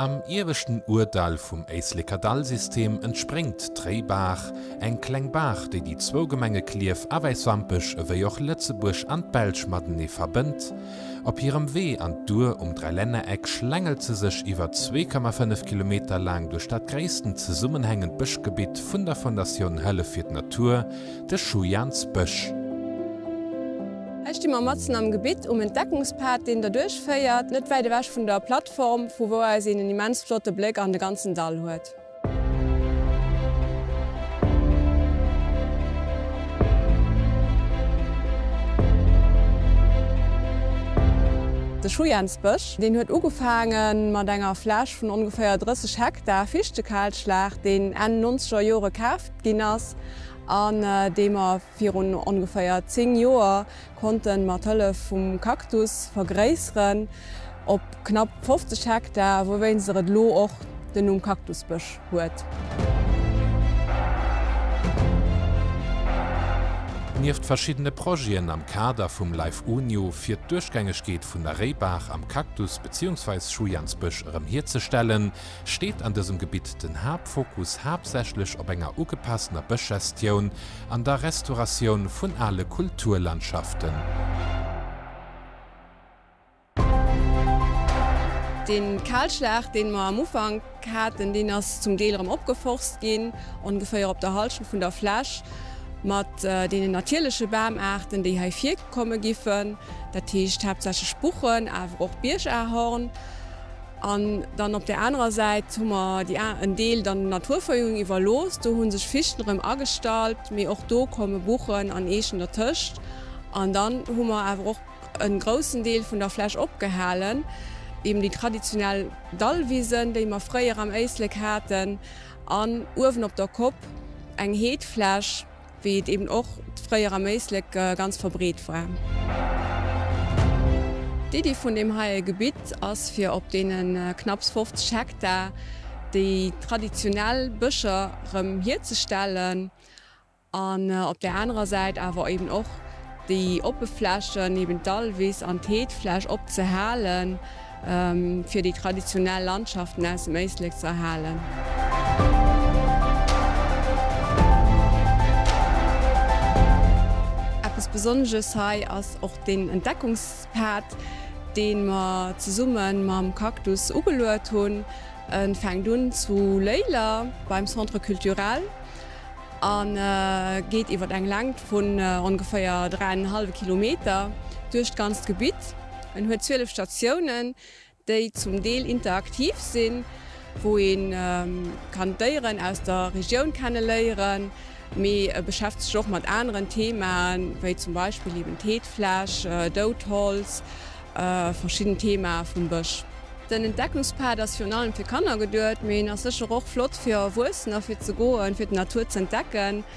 Am ieweschten Ourdall vum Éisleker Dallsystem entspréngt d'Réibaach, eng kleng Baach, déi déi zwou Gemenge Clierf a Wäiswampech ewéi och Lëtzebuerg an d'Belsch matenee verbënnt. Op hirem Wee an d'Our um Dräilännereck schlängelt se sech iwwer 2,5 Kilometer laang duerch dat gréissten zesummenhängend Bëschgebitt vun der Fondatioun Hëllef fir d'Natur, de Schujans Bësch. Hei sti mer matzen am Gebitt um Entdeckungspad, deen derduerch féiert, net wäit ewech vun der Plattform, vu wou aus een en immens flotte Bléck an de ganzen Dall huet. De Schujensbësch, deen huet ugefaange mat enger Fläch vun ongeféier 30 Hektar Fichtekahlschlag, deen Enn nonzeger Jore kaaft ginn ass an dee mer, Virun ongeféier 10 Joer konnt en mat Hëllef vum Cactus vergréisseren op knapp 50 Hektar, wouwéinst er et elo och den Numm Cactusbësch huet. Nieft verschiddene Projeten am Kader vum Life Unio fir d'Duerchgängegkeet vun der Réibaach am Cactus beziehungsweis Schujans-Bësch erëm hierzestellen, steet an dësem Gebitt den Haaptfokus haaptsächlech op enger ugepasstener Bëschgestioun an der Restauratioun vun ale Kulturlandschaften. Deen Kalschlag deen mer am Ufank haaten, deen ass zum Deel erem opgeforst ginn, ongeféier op der Halschent vun der Fläch, mat deenen natierleche Baamaarten déi hei virkommen giffen, dat heescht haaptsächlech Buchen awer och Biergahorn. An dann op där anerer Säit hu mer déi a en Deel dann der Naturverjüngung iwwerlooss. Do hu sech Fichten erëm agestallt, mee och do komme Buchen an Eechen dertëscht. An dann hu mer awer och e groussen Deel vun der Fläch opgehalen, eben déi traditionell Dallwisen, déi mer fréier am Éislek haten, an uewen op der Kopp eng Heedfläch. Wéi et eben och fréier am Éislek ganz verbreet war. D'Iddi vun deem heie Gebitt ass fir op deene knapps 50 Hektar déi traditionell Bëscher rëm hierzestellen an op där anerer Säit awer eben och déi oppe Flächen, eben d'Dallwiss an d'Heedfläch, opzehalen. fir déi traditionell Landschaften aus dem Éislek ze erhalen. Eppes Besonnesches hei ass och den Entdeckungspad, dee mer zesumme mam Cactus ugeluet hunn. E fänkt un zu Léiler beim Centre Culturel a geet iwwer eng Längt vun ongeféier dräi an en hallwe Kilometer duerch d'ganzt Gebitt. En huet 12 Statiounen, déi zum Deel interaktiv sinn, wou ee kann d'Déieren aus der Regioun kenne léieren, mee e beschäftegt sech och mat aneren Themaen, wéi zum Beispill eben Teetfläsch, dout Holz, verschidden Themae vum Bësch. Den Entdeckungspad ass virun allem fir Kanner geduet, mee en ass sécher och flott fir Erwuessener, fir ze goen, fir d'Natur z'entdecken.